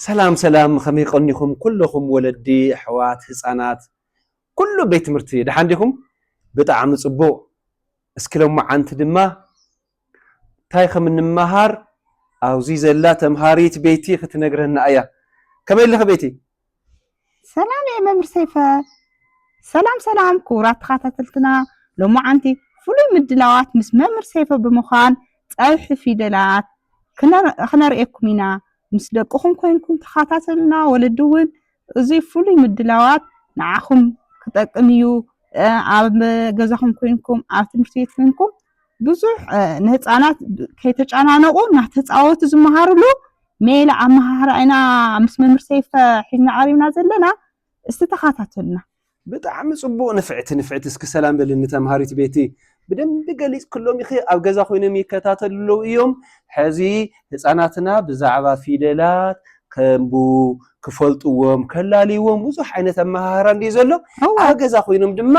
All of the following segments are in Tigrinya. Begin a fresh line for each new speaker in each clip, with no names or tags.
ሰላም ሰላም ከመይ ቀኒኹም ኩለኹም ወለዲ ኣሕዋት ህጻናት ኩሉ ቤት ትምህርቲ ደሓን ዲኹም ብጣዕሚ ጽቡቕ እስኪ ሎማዓንቲ ድማ እንታይ ከም እንመሃር ኣብዚ ዘላ ተምሃሪት ቤቲ ክትነግረና እያ ከመይ ኣለኺ ቤቲ
ሰላም እየ መምህር ሰይፈ ሰላም ሰላም ክቡራት ተኸታተልትና ሎማዓንቲ ፍሉይ ምድላዋት ምስ መምህር ሰይፈ ብምዃን ፀብሒ ፊደላት ክነርእየኩም ኢና ምስ ደቅኹም ኮይንኩም ተኸታተሉና ወለዲ እውን እዚ ፍሉይ ምድላዋት ንዓኹም ክጠቅም እዩ ኣብ ገዛኹም ኮይንኩም ኣብ ትምህርቲ ቤት ኮይንኩም ብዙሕ ንህፃናት ከይተጨናነቑ እናተፃወቱ ዝመሃሩሉ ሜላ ኣመሃህራ ኢና ምስ መምህር ሰይፈ ሒዝና ቀሪብና ዘለና እስቲ ተኸታተሉና ብጣዕሚ
ጽቡቕ ንፍዕቲ ንፍዕቲ እስኪ ሰላም በልኒ ተምሃሪት ቤቲ ብደንቢ ገሊጽክሎም ኢኺ ኣብ ገዛ ኮይኖም ይከታተሉ ኣለዉ እዮም ሕዚ ህፃናትና ብዛዕባ ፊደላት ከምቡ ክፈልጥዎም ከላልይዎም ብዙሕ ዓይነት ኣመሃህራ እንዲዩ ዘሎ ኣብ ገዛ ኮይኖም ድማ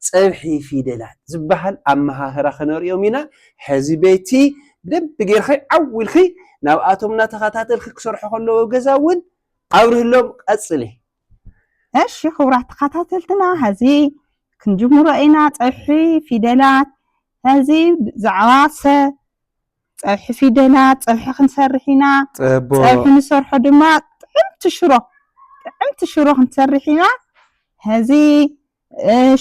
ጸብሒ ፊደላት ዝበሃል ኣመሃህራ ክነርእዮም ኢና። ሕዚ ቤቲ ብደንቢ ጌርኺ ዓው ኢልኪ ናብኣቶም እናተኸታተልኪ ክሰርሑ ከለዉ ኣብ ገዛ እውን ኣብርህሎም። ቀጽሊ። እሺ
ክቡራት ተኸታተልትና ሕዚ ክንጅምሮ ኢና ጸብሒ ፊደላት። ሕዚ ብዛዕባ ሰ ጸብሒ ፊደላት ጸብሒ ክንሰርሕ ኢና። ጸቦ ጸብሒ ንሰርሖ ድማ ጥዕምቲ ሽሮ ጥዕምቲ ሽሮ ክንሰርሕ ኢና። ሕዚ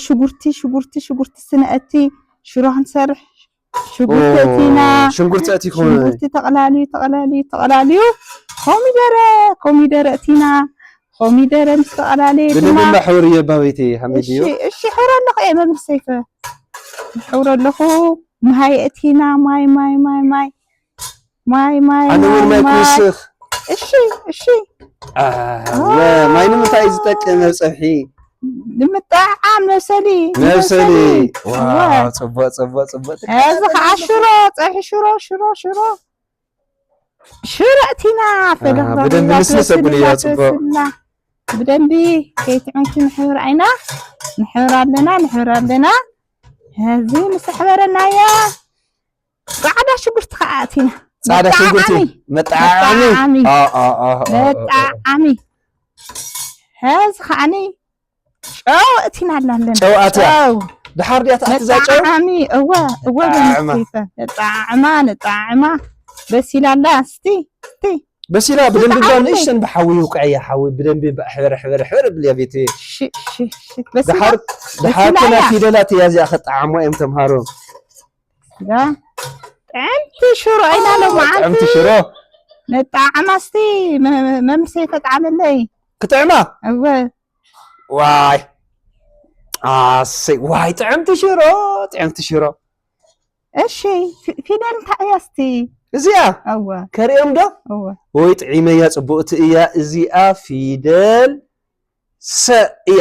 ሽጉርቲ ሽጉርቲ ሽጉርቲ ስነእቲ ሽሮ ክንሰርሕ ሽጉርቲ እቲና ሽንጉርቲ እቲ ኮነ ሽጉርቲ ተቕላልዩ ተቕላልዩ ተቕላልዩ ኮሚደረ ኮሚደረ እቲና ኮሚደረ ምስ ተቕላለየ ድማ ብደንብ ሕብር እየ
ባበይቲ ሓሚድ እዩ እሺ ሕብረ ኣለኹ
እየ መምህር ሰይፈ ሕብረ ኣለኹ ማይ እቲና ማይ ማይ ማይ ማይ ማይ
ማይ ኣነ እውን ማይ ማይ ክውስኽ እሺ እሺ
ኣወ
ማይ ንምንታይ እዩ ዝጠቅም ኣብ ፀብሒ ንምጥዕዓም
መብሰሊ መብሰሊ እወ።
ዋው ፅቡቅ ፅቡቅ ፅቡቅ እዚ
ከዓ ሽሮ ፀብሒ ሽሮ ሽሮ ሽሮ ሽሮ እቲና ፈለኽ ኣሃ፣ ብደንቢ
ልስልስ ኣብልዮ፣ ጽቡቅ። ብደንቢ
ከይትዕንኪ ንሕብር ዓይና ንሕብር ኣለና ንሕብር ኣለና እዚ ምስ ኣሕበረናያ ጻዕዳ ሽጉርቲ ከዓ ኣእቲና ጻዕዳ ሽጉርቲ
መጣዓዓሚ መጣዓዓሚ
ሕዚ ከዓኒ ጨው እቲና ኣላለን ጨው ኣትያ
ድሓር ድያ ትኣትዛ ጨው መጣዓዓሚ እወ
እወ በንስቲፈ ነጣዓዕማ ነጣዓዕማ በሲላ ኣላ ስቲ ቲ በሲላ
ብደንቢ ባ ንእሽተን ብሓዊ ውቅዐያ ሓዊ ብደንቢ ሕበረ ሕበረ ሕበረ ብልያ ቤት ድሓር ድሓር ፊደላት እያ እዚኣ ከጣዓሞ እዮም ተምሃሮ
ጥዕምቲ ሽሮ ኢና ሎማዓንቲ ጥዕምቲ ሽሮ
ንጣዕማ
እስቲ መምሰ ተጣዕመለይ ክጥዕማ
እወ
ዋይ
ኣሰይ ዋይ ጥዕምቲ ሽሮ ጥዕምቲ ሽሮ እሺ ፊደል
እንታይ እያ እስቲ እዚኣ
እወ ከርእዮም ዶ እወ ወይ ጥዒመያ ፅቡቕቲ እያ እዚኣ ፊደል ሰ እያ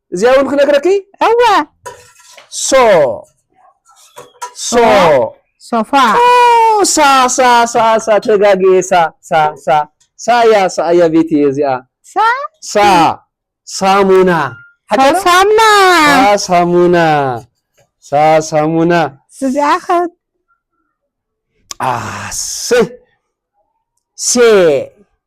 እዚኣ እውን ክነግረኪ እወ
ሶ ሶ ሶፋ ሳ ሳ ሳ
ሳ ተጋግየ ሳ ሳ ሳ ሳያ ሳያ ቤት እየ እዚኣ ሳ ሳ ሳሙና ሳሙና ሳሙና
ሳ ሳሙና እዚኣ ከት ኣሰይ ሴ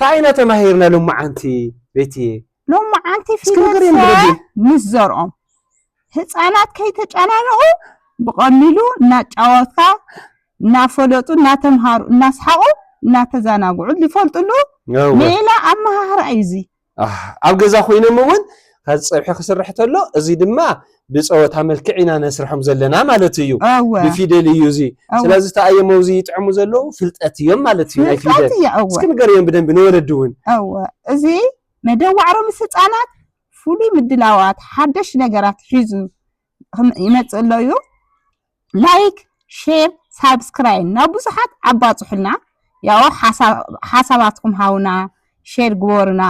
ታይ ኢና ተማሂርና ሎማዓንቲ ቤትየ? ሎማዓንቲ
ፊደልሰ ምስ ዘርኦም ህፃናት ከይተጨናነቁ ብቀሊሉ እናጫወትካ እናፈለጡ እናተምሃሩ እናስሓቁ እናተዛናግዑ ዝፈልጥሉ ሜላ ኣመሃህራ እዩ እዙይ። ኣሕ ኣብ ገዛ
ኮይኖም እውን ከዚ ፀብሒ ክስርሕ ተሎ እዚ ድማ ብፀወታ መልክዕ ኢና ነስርሖም ዘለና ማለት እዩ እወ ብፊደል እዩ እዚ እወ ስለዚ እታ ኣየም ኣብዚ ይጥዕሙ ዘለዉ ፍልጠት እዮም ማለት እዩ ናይ ፍልጠት ፊደል እዩ እወ እስኪ ንገርዮም ብደንቢ ንወለዲ እውን እወ እዚ
መደብ ዋዕሮ ምስ ህፃናት ፍሉይ ምድላዋት ሓደሽ ነገራት ሒዙ ክም- ይመፅእ ኣሎ እዩ ላይክ ሼር ሳብስክራይን ናብ ብዙሓት ኣባጹሑልና ያኦ ሓሳባትኩም ሃቡና ሼር ግበሩና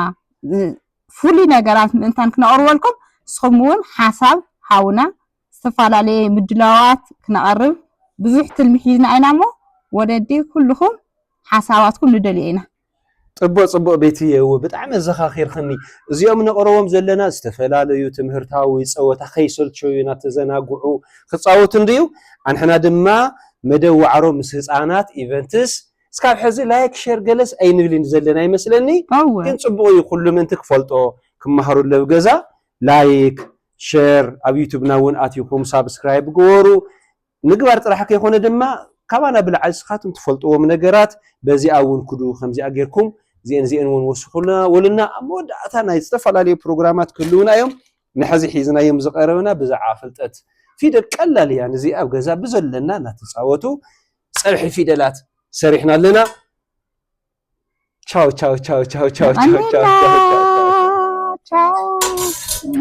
ፍሉይ ነገራት ምእንታን ክነቕርበልኩም ንስኹም እውን ሓሳብ ሃቡና ዝተፈላለየ ምድላዋት ክነቐርብ ብዙሕ ትልሚ ሒዝና ኢና እሞ ወለዲ ኩልኹም ሓሳባትኩም ንደልዮ ኢና። ጽቡቅ ጽቡቅ
ቤትየ እወ ብጣዕሚ ኣዘኻኺርኽኒ እዚኦም ነቕርቦም ዘለና ዝተፈላለዩ ትምህርታዊ ጸወታ ከይሰልቸዩ ናተዘናግዑ ክጻወቱ እንድዩ ኣንሕና ድማ መደብ ዋዕሮ ምስ ህጻናት ኢቨንትስ እስካብ ሕዚ ላይክ ሸር ገለስ ኣይንብልን ዘለና ይመስለኒ እወ ግን ጽቡቅ እዩ ኩሉ ምእንቲ ክፈልጦ ክማሃሩ ለብ ገዛ ላይክ ሸር ኣብ ዩቱብና እውን ኣቲኹም ሳብስክራይብ ግበሩ ምግባር ጥራሕ ከይኮነ ድማ ካባና ብላዕሊ ስኻትም ትፈልጥዎም ነገራት በዚኣ ውን ክዱ ከምዚኣ ጌርኩም ዚኤን ዚኤን ውን ወስኹልና ወልና ኣብ መወዳእታ ናይ ዝተፈላለዩ ፕሮግራማት ክህልውና እዮም ንሐዚ ሒዝናዮም ዝቀረብና ብዛዕባ ፍልጠት ፊደል ቀላል እያ ንዚኣ ኣብ ገዛ ብዘለና እናተጻወቱ ጸብሒ ፊደላት ሰሪሕና ኣለና ቻው ቻው ቻው ቻው ቻው ቻው ቻው ቻው ቻው